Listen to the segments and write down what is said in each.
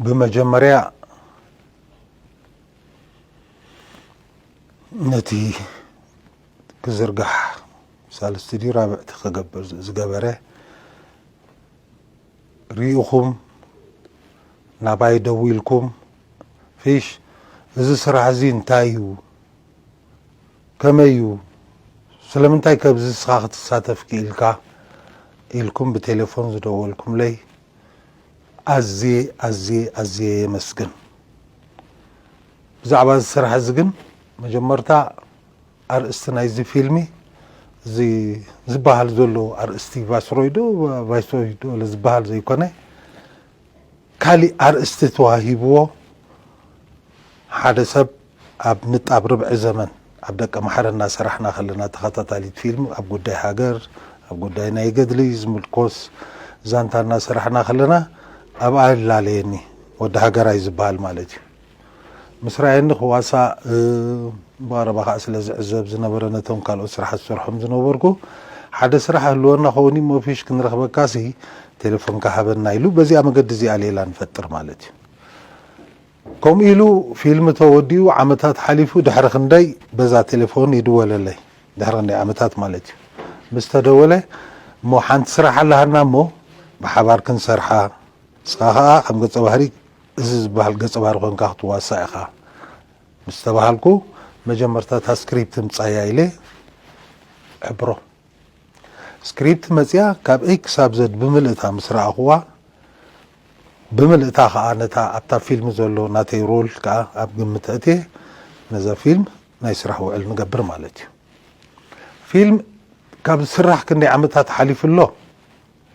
ብመጀመርያ ነቲ ክዝርጋሕ ሳልስቲ ድዩ ራብዕቲ ክገብር ዝገበረ ርኢኹም ናባይ ደዊልኩም ፊሽ እዚ ስራሕ እዚ እንታይ እዩ ከመይ እዩ ስለምንታይ ከብዚ ንስኻ ክትሳተፍ ክኢልካ ኢልኩም ብቴሌፎን ዝደወልኩምለይ ኣዝየ ኣዝየ ኣዝየ የመስግን። ብዛዕባ እዚ ስራሕ እዚ ግን መጀመርታ ኣርእስቲ ናይዚ ፊልሚ እዚ ዝበሃል ዘሎ ኣርእስቲ ቫስሮይ ዶ ቫይስሮይ ዶ ዝበሃል ዘይኮነ ካሊእ ኣርእስቲ ተዋሂብዎ ሓደ ሰብ ኣብ ንጣብ ርብዒ ዘመን ኣብ ደቀ መሓረ እናሰራሕና ከለና ተኸታታሊት ፊልም ኣብ ጉዳይ ሃገር ኣብ ጉዳይ ናይ ገድሊ ዝምልኮስ ዛንታ እናሰራሕና ከለና ኣብኣ ይላለየኒ ወዲ ሃገራይ ዝበሃል ማለት እዩ ምስ ራየኒ ክዋሳእ ብቐረባ ከዓ ስለ ዝዕዘብ ዝነበረ ነቶም ካልኦት ስራሓት ዝሰርሖም ዝነበርኩ ሓደ ስራሕ ህልወና ከውን እሞ ፊሽ ክንረኽበካሲ ቴሌፎንካ ሃበና ኢሉ በዚኣ መገዲ እዚኣ ሌላ ንፈጥር ማለት እዩ ከምኡ ኢሉ ፊልም ተወዲኡ ዓመታት ሓሊፉ ድሕሪ ክንደይ በዛ ቴሌፎን ይድወለለይ ድሕሪ ክንደይ ዓመታት ማለት እዩ ምስ ተደወለ እሞ ሓንቲ ስራሕ ኣለሃና እሞ ብሓባር ክንሰርሓ ንስኻ ከኣ ከም ገጸ ባህሪ እዚ ዝበሃል ገጸ ባህሪ ኮንካ ክትዋሳእ ኢኻ ምስ ተባሃልኩ መጀመርታ እታ ስክሪፕት ምጻያ ኢለ እሕብሮ ስክሪፕት መጽያ ካብ ኤይ ክሳብ ዘድ ብምልእታ ምስ ረኣኹዋ ብምልእታ ከኣ ነታ ኣብታ ፊልም ዘሎ ናተይ ሮል ከኣ ኣብ ግምት ኣእትየ ነዛ ፊልም ናይ ስራሕ ውዕል ንገብር ማለት እዩ። ፊልም ካብ ዝስራሕ ክንደይ ዓመታት ሓሊፉ ኣሎ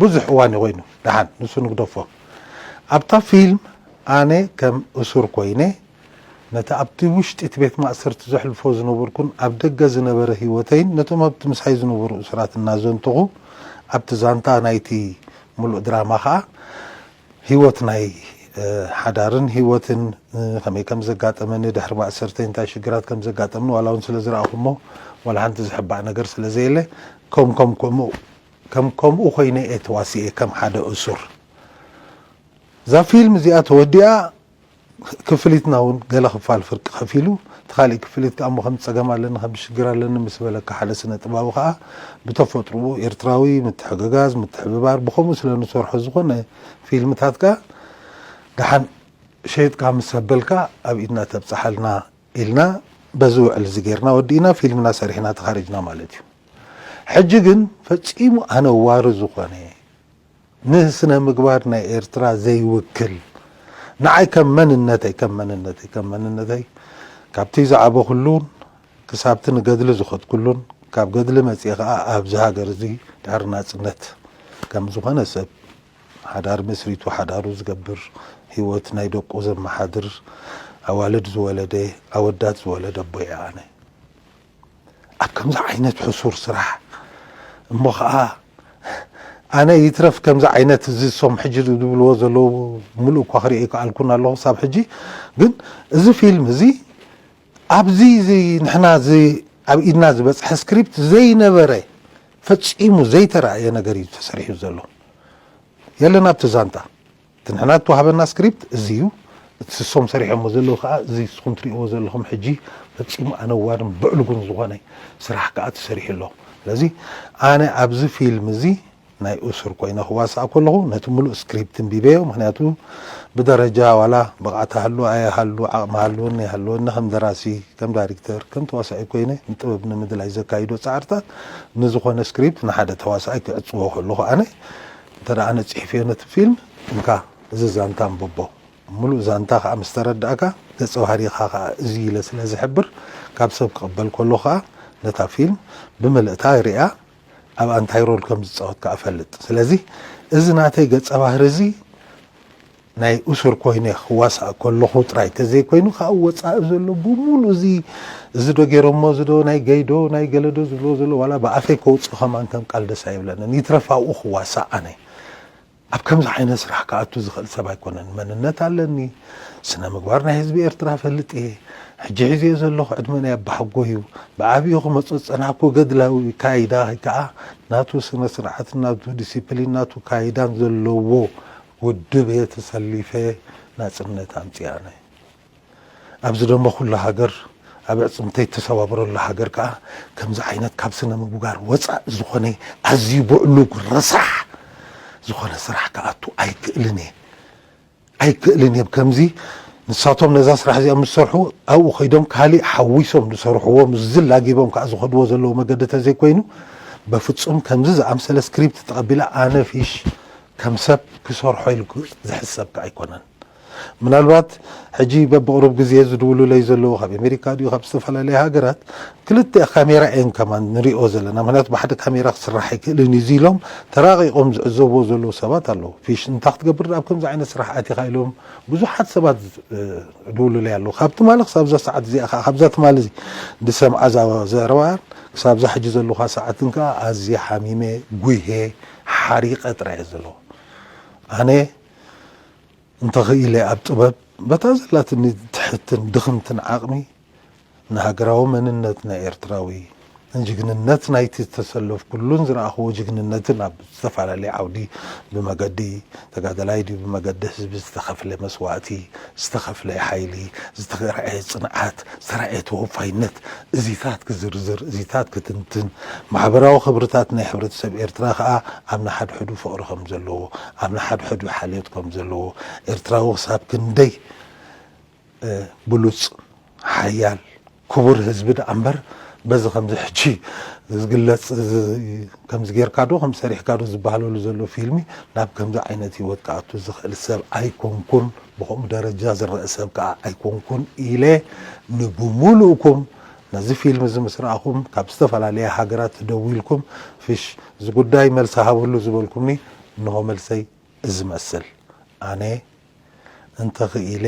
ብዙሕ እዋን እዩ ኮይኑ ደሓን ንሱ ንግደፎ ኣብታ ፊልም ኣነ ከም እሱር ኮይነ ነቲ ኣብቲ ውሽጢ እቲ ቤት ማእሰርቲ ዘሕልፎ ዝነበርኩን ኣብ ደገ ዝነበረ ህይወተይን ነቶም ኣብቲ ምሳይ ዝነበሩ እሱራት እናዘንተኹ፣ ኣብቲ ዛንታ ናይቲ ምሉእ ድራማ ከኣ ህይወት ናይ ሓዳርን ህይወትን ከመይ ከም ዘጋጠመኒ፣ ድሕሪ ማእሰርተይ እንታይ ሽግራት ከም ዘጋጠምኒ ዋላ እውን ስለ ዝረኣኹሞ ዋላ ሓንቲ ዝሕባእ ነገር ስለ ዘየለ ከም ከምኡ ከም ከምኡ ኮይነ እየ ተዋሲኤ ከም ሓደ እሱር። እዛ ፊልም እዚኣ ተወዲኣ ክፍሊትና ውን ገለ ክፋል ፍርቂ ከፊሉ እቲ ካሊእ ክፍሊት ከኣ እሞ ከምዚ ጸገም ኣለኒ ከምዚ ሽግር ኣለኒ ምስ በለካ ሓደ ስነ ጥባዊ ከኣ ብተፈጥርኡ ኤርትራዊ ምትሕግጋዝ ምትሕብባር ብከምኡ ስለ ንሰርሖ ዝኮነ ፊልምታትካ ደሓን ሸይጥካ ምስ ኣበልካ ኣብ ኢድና ተብጽሓልና ኢልና በዚ ውዕል እዚ ጌርና ወዲእና ፊልምና ሰሪሕና ተኻሪጅና ማለት እዩ ሕጂ ግን ፈጺሙ ኣነዋሪ ዝኮነ ንስነ ምግባር ናይ ኤርትራ ዘይውክል ንዓይ ከም መንነተይ ከም መንነተይ ከም መንነተይ ካብቲ ዝዓበኹሉን ክሳብቲ ንገድሊ ዝኸድኩሉን ካብ ገድሊ መጺኤ ከኣ ኣብዚ ሃገር እዚ ድሕሪ ናጽነት ከም ዝኾነ ሰብ ሓዳር መስሪቱ ሓዳሩ ዝገብር ህይወት ናይ ደቁ ዘመሓድር ኣዋልድ ዝወለደ ኣወዳት ዝወለደ ኣቦ እየ ኣነ። ኣብ ከምዚ ዓይነት ሕሱር ስራሕ እሞ ከኣ ኣነ ይትረፍ ከምዚ ዓይነት እዚ ሶም ሕጂ ዝብልዎ ዘለዉ ምሉእ እኳ ክሪኦ ኣይከኣልኩን ኣለኹ ክሳብ ሕጂ ግን እዚ ፊልም እዚ ኣብዚ እዚ ንሕና እዚ ኣብ ኢድና ዝበጽሐ ስክሪፕት ዘይነበረ ፈጺሙ ዘይተራእየ ነገር እዩ ተሰሪሑ ዘሎ የለን ኣብቲ ዛንታ እቲ ንሕና ዝተዋህበና ስክሪፕት እዚ እዩ። እቲ ስሶም ሰሪሖሞ ዘለዉ ከኣ እዚ ንስኹም ትርእይዎ ዘለኹም ሕጂ ፈጺሙ ኣነዋርን ብዕሉጉን ዝኾነ ስራሕ ከኣ ተሰሪሑ ኣሎ። ስለዚ ኣነ ኣብዚ ፊልም እዚ ናይ እሱር ኮይነ ክዋሳእ ከለኹ ነቲ ምሉእ ስክሪፕት እንቢበዮ ምኽንያቱ ብደረጃ ዋላ ብቕዓት እሃሉ ኣይሃሉ ዓቕሚ ሃልወኒ ኣይሃልወኒ ከም ደራሲ ከም ዳሪክተር ከም ተዋሳኢ ኮይነ ንጥበብ ንምድላይ ዘካይዶ ጻዕርታት ንዝኾነ ስክሪፕት ንሓደ ተዋሳኣይ ክዕጽዎ ከለኹ ኣነ እንተ ኣነ ጺሒፈዮ ነቲ ፊልም እንካ እዚ ዛንታ ኣንብቦ ምሉእ ዛንታ ከኣ ምስ ተረዳእካ ገጸ ባህሪኻ ከኣ እዚ ኢለ ስለ ዝሕብር ካብ ሰብ ክቕበል ከለኩ ከኣ ነታ ፊልም ብምልእታ ሪኣ ኣብኣ እንታይ ሮል ከም ዝጻወት ከኣ እፈልጥ ስለዚ እዚ ናተይ ገጸ ባህሪ እዚ ናይ እሱር ኮይነ ክዋሳእ ከለኹ ጥራይ ተዘይኮይኑ ከኣ ኣብ ወጻኢ ዘሎ ብምሉኡ እዚ እዚዶ ጌሮሞ እዚዶ ናይ ገይዶ ናይ ገለዶ ዝብልዎ ዘለዉ ዋላ ብኣፈይ ከውጽእ ከማን ከም ቃል ደስ ኣይብለንን ይትረፍ ኣብኡ ክዋሳእ ኣነ ኣብ ከምዚ ዓይነት ስራሕ ክኣቱ ዝኽእል ሰብ ኣይኮነን መንነት ኣለኒ ስነምግባር ናይ ህዝቢ ኤርትራ እፈልጥ እየ ሕጂ ሒዘዮ ዘለኹ ዕድመ ናይ ኣባሓጎ እዩ ብዓቢኡ ክመጾ ዝጸናሕኩ ገድላዊ ካይዳ ከኣ ናቱ ስነስርዓትን ናቱ ዲሲፕሊን ናቱ ካይዳን ዘለዎ ውድብ እየ ተሰሊፈ ናጽነት ኣምጺእ ኣነ ኣብ ዝደመኹላ ሃገር ኣብ ኣዕጽምተይ እተሰባብረላ ሃገር ከኣ ከምዚ ዓይነት ካብ ስነ ምብጋር ወጻእ ዝኾነ ኣዝዩ ብዕሉግ ረሳሕ ዝኾነ ስራሕ ክኣቱ ኣይክእልን እየ ኣይክእልን እየ ከምዚ ንሳቶም ነዛ ስራሕ እዚኣ ምስ ሰርሑ ኣብኡ ከይዶም ካሊእ ሓዊሶም ዝሰርሕዎ ምስዚ ላጊቦም ከዓ ዝኸድዎ ዘለዎ መገዲ ተዘይኮይኑ በፍጹም ከምዚ ዝኣምሰለ ስክሪፕት ተቐቢላ ኣነ ፊሽ ከም ሰብ ክሰርሖ ኢሉ ዝሕሰብ ከኣ ኣይኮነን። ምናልባት ሕጂ በብቕሩብ ግዜ ዝድውሉለይ ዘለዉ ካብ ኤመሪካ ድዩ ካብ ዝተፈላለየ ሃገራት ክልተ ካሜራ እየን ከማን ንሪኦ ዘለና ምኽንያቱ ብሓደ ካሜራ ክስራሕ ኣይክእልን እዩ እዚ ኢሎም ተራቒቖም ዝዕዘብዎ ዘለዉ ሰባት ኣለዉ። ፊሽ እንታይ ክትገብር ኣብ ከምዚ ዓይነት ስራሕ ኣቲኻ ኢሎም ብዙሓት ሰባት ዝድውሉለይ ኣለዉ። ካብ ትማሊ ክሳብዛ ሰዓት እዚኣ ከኣ ካብዛ ትማሊ ዝሰምዓ ዘረባን ክሳብዛ ሕጂ ዘለኹዋ ሰዓትን ከኣ ኣዝየ ሓሚመ፣ ጉህየ፣ ሓሪቀ ጥራይ እየ ዘለኹ ኣነ እንተኽኢለ ኣብ ጥበብ በታ ዘላትኒ ትሕትን ድኽምትን ዓቕሚ ንሃገራዊ መንነት ናይ ኤርትራዊ ንጅግንነት ናይቲ ዝተሰለፍኩሉን ዝረኣኹዎ ጅግንነትን ኣብ ዝተፈላለየ ዓውዲ ብመገዲ ተጋደላይ ድዩ ብመገዲ ህዝቢ ዝተኸፍለ መስዋእቲ፣ ዝተኸፍለ ሓይሊ፣ ዝተረኣየ ፅንዓት፣ ዝተረኣየ ተወፋይነት እዚታት ክዝርዝር፣ እዚታት ክትንትን፣ ማሕበራዊ ክብርታት ናይ ሕብረተሰብ ኤርትራ ከኣ ኣብ ንሓድሕዱ ፍቕሪ ከምዘለዎ፣ ኣብ ንሓድሕዱ ሓልዮት ከምዘለዎ፣ ኤርትራዊ ክሳብ ክንደይ ብሉጽ ሓያል ክቡር ህዝቢ ደኣ እምበር በዚ ከምዚ ሕጂ ዝግለጽ ከምዚ ጌርካ ዶ ከምዚ ሰሪሕካ ዶ ዝበሃለሉ ዘሎ ፊልሚ ናብ ከምዚ ዓይነት ህይወት ክኣቱ ዝኽእል ሰብ ኣይኮንኩን ብከምኡ ደረጃ ዝረኣ ሰብ ከኣ ኣይኮንኩን ኢለ ንብሙሉእኩም ነዚ ፊልም እዚ ምስ ረኣኹም ካብ ዝተፈላለያ ሃገራት ደዊልኩም ፍሽ እዚ ጉዳይ መልሲ ሃብሉ ዝበልኩምኒ እንሆ መልሰይ እዚ መስል ኣነ እንተኽኢለ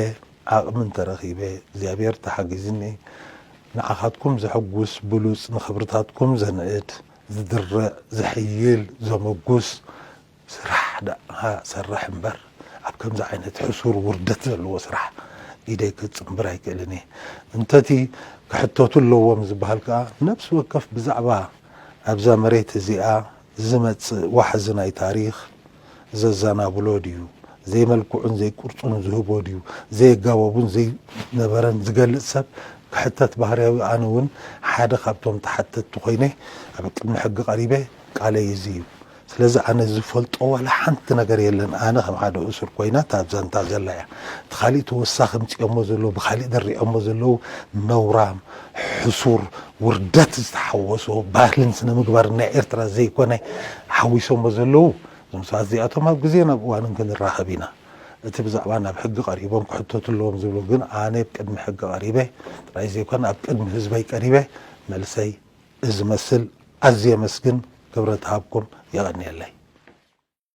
ዓቕሚ እንተረኺበ እግዚኣብሔር ተሓጊዝኒ ንዓኻትኩም ዘሕጉስ ብሉጽ ንኽብርታትኩም ዘንዕድ ዝድርዕ ዘሕይል ዘመጉስ ስራሕ ደኣ ሰርሕ እምበር ኣብ ከምዚ ዓይነት ሕሱር ውርደት ዘለዎ ስራሕ ኢደይ ክጽንብር ኣይክእልን እየ እንተቲ ክሕተቱ ኣለዎም ዝብሃል ከኣ ነብሲ ወከፍ ብዛዕባ ኣብዛ መሬት እዚኣ ዝመጽእ ዋሕዚ ናይ ታሪኽ ዘዛናብሎ ድዩ፣ ዘይመልክዑን ዘይቅርጹን ዝህቦ ድዩ፣ ዘየጋበቡን ዘይነበረን ዝገልጽ ሰብ ክሕተት ባህርያዊ ኣነ ውን ሓደ ካብቶም ተሓተትቲ ኮይነ ኣብ ቅድሚ ሕጊ ቀሪበ ቃለይ እዚ እዩ ስለዚ ኣነ ዝፈልጦ ዋላ ሓንቲ ነገር የለን ኣነ ከም ሓደ እሱር ኮይና እታ ዛንታ ዘላ እያ እቲ ካሊእ ተወሳኺ ምጽኦሞ ዘለዉ ብካሊእ ድሪዖሞ ዘለዉ ነውራም ሕሱር ውርደት ዝተሓወሶ ባህልን ስነ ምግባርን ናይ ኤርትራ ዘይኮነ ሓዊሶሞ ዘለዉ እዞም ሰባት እዚኣቶም ኣብ ግዜን ኣብ እዋንን ክንራኸብ ኢና። እቲ ብዛዕባ ናብ ሕጊ ቀሪቦም ክሕተቱ ኣለዎም ዝብሉ ግን ኣነ ኣብ ቅድሚ ሕጊ ቀሪበ ጥራይ ዘይኮነ ኣብ ቅድሚ ህዝበይ ቀሪበ መልሰይ እዚ መስል ኣዝየ የመስግን ክብረት እሃብኩም የቐንየለይ።